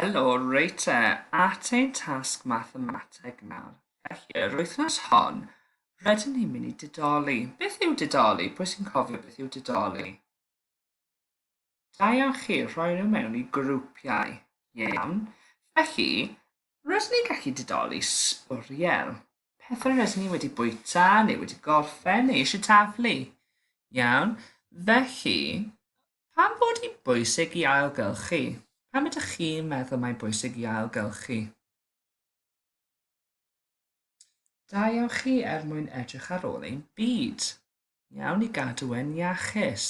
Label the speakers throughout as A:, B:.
A: Helo, reit te, at ein tasg mathemateg nawr. Felly, yr wythnos hon, rydyn ni'n mynd i didoli. Beth yw didoli? Pwy sy'n cofio beth yw didoli? Da iawn chi, rhoi nhw mewn i grwpiau. Iawn. Felly, rydyn ni'n gallu didoli sbwriel. Pethau rydyn ni wedi bwyta, neu wedi gorffen, neu eisiau taflu. Iawn. Felly, Pam fod hi'n bwysig i ailgylchu? Pam ydych chi'n meddwl mae'n bwysig i ailgylchu? Da iawn chi er mwyn edrych ar ôl ein byd. Iawn i gadw e'n iachus.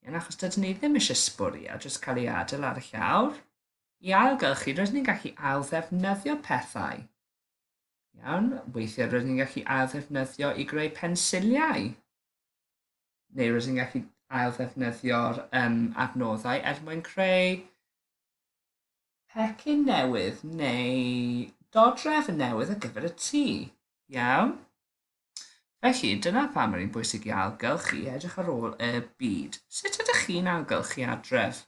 A: Iawn achos dydyn ni ddim eisiau sbwriel jyst cael ei adael ar y llawr. I ailgylchu rydyn ni'n gallu ailddefnyddio pethau. Iawn, weithiau rydyn ni'n gallu ailddefnyddio i greu pensiliau. neu rydych chi'n gallu ail-ddefnyddio'r um, adnoddau er mwyn creu pecyn newydd neu dodref yn newydd ar gyfer y tŷ. Iawn? Felly, dyna pam mae'n bwysig i ailgylchu edrych ar ôl y byd. Sut ydych chi'n ailgylchu adref?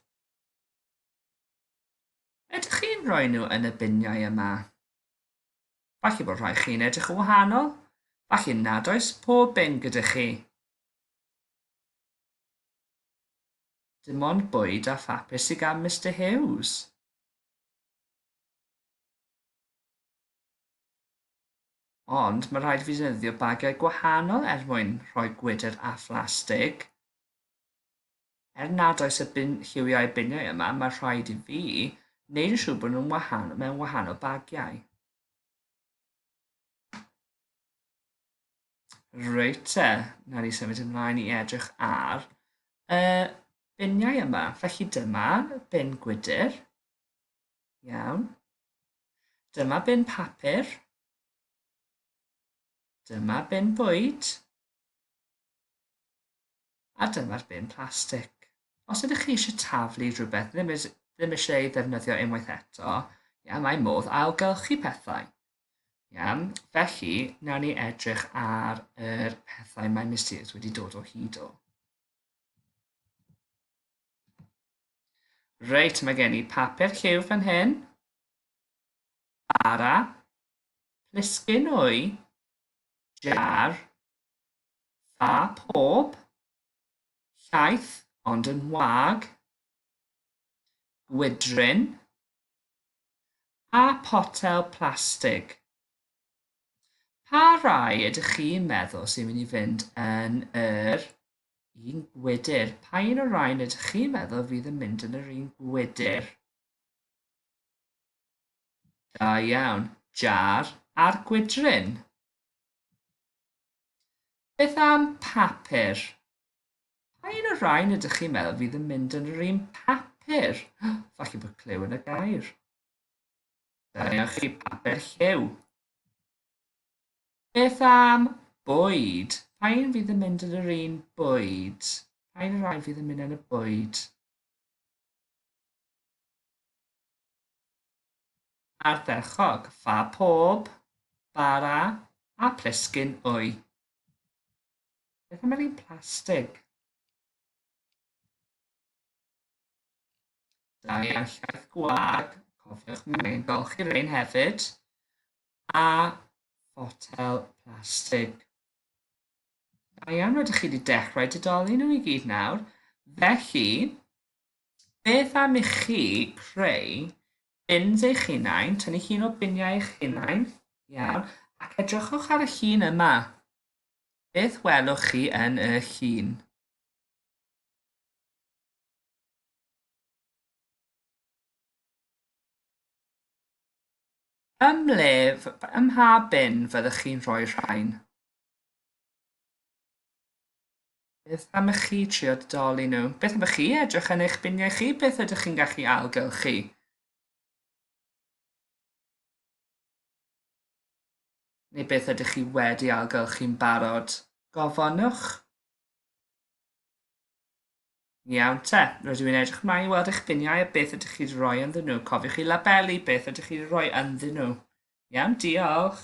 A: Ydych chi'n rhoi nhw yn y biniau yma? Falle bod rhai chi'n edrych yn wahanol, falle nad oes pob un gyda chi. Dim ond bwyd a phapur sydd gan Mister Hughes. Ond mae rhaid i fi ddefnyddio bagiau gwahanol er mwyn rhoi gwydr a phlastig. Er nad oes y bin lliwiau biniau yma, mae rhaid i fi wneud yn siŵr bod nhw'n wahanol mewn wahanol bagiau. Reit te, na ni symud ymlaen i edrych ar y biniau yma. Felly dyma bin gwydr. Iawn. Dyma bin papur. Dyma bin bwyd. a dyma'r bin plastig. Os ydych chi eisiau taflu rhywbeth ddim, ddim eisiau ei ddefnyddio unwaith eto, ia, mae modd ailgylchu pethau. Ia, felly, nawn ni edrych ar yr pethau mae Mysterious wedi dod o hyd o. Reit, mae gen i papur lliw fan hyn. Bara. Plisgyn wy. Jar. Fa pob. Llaeth, ond yn wag. Gwydryn. Pa potel plastig? Pa rai ydych chi'n meddwl sy'n mynd i fynd yn yr un gwydr? Pa un o'r rhain ydych chi'n meddwl fydd yn mynd yn yr un gwydr? Da iawn. Jar a'r gwydryn. Beth am papur? Pa un o'r rhain ydych chi'n meddwl fydd yn mynd yn yr un papur? Falle bod clyw yn y gair. Dyna chi papur lliw. Beth am bwyd? Pa un fydd yn mynd yn yr un bwyd? Pa un o'r rhain fydd yn mynd yn y bwyd? Ardderchog, fa pob bara a plisgyn wy. Beth am yr un plastig? Da iawn llaeth gwag, cofiwch mi ein golchi rein hefyd. A fotel plastig. Da iawn, rydych chi wedi dechrau didoli nhw i gyd nawr. Felly, Beth am i chi creu bins eich hunain, tynnu llun o biniau eich hunain, iawn, ac edrychwch ar y llun yma. Beth welwch chi yn y llun? Ym mhle, ym mha bin fyddwch chi'n rhoi rhain? Beth am i chi trio dodoli nhw? Beth am i chi edrych yn eich biniau chi? Beth ydych chi'n gallu ailgylchu? Neu beth ydych chi wedi ailgylchu'n barod? Gofynnwch. Iawn te, rydw i'n edrych mlaen i weld eich biniau a beth ydych chi'n rhoi ynddyn nhw. Cofiwch chi labelu beth ydych chi'n rhoi ynddyn nhw. Iawn, diolch.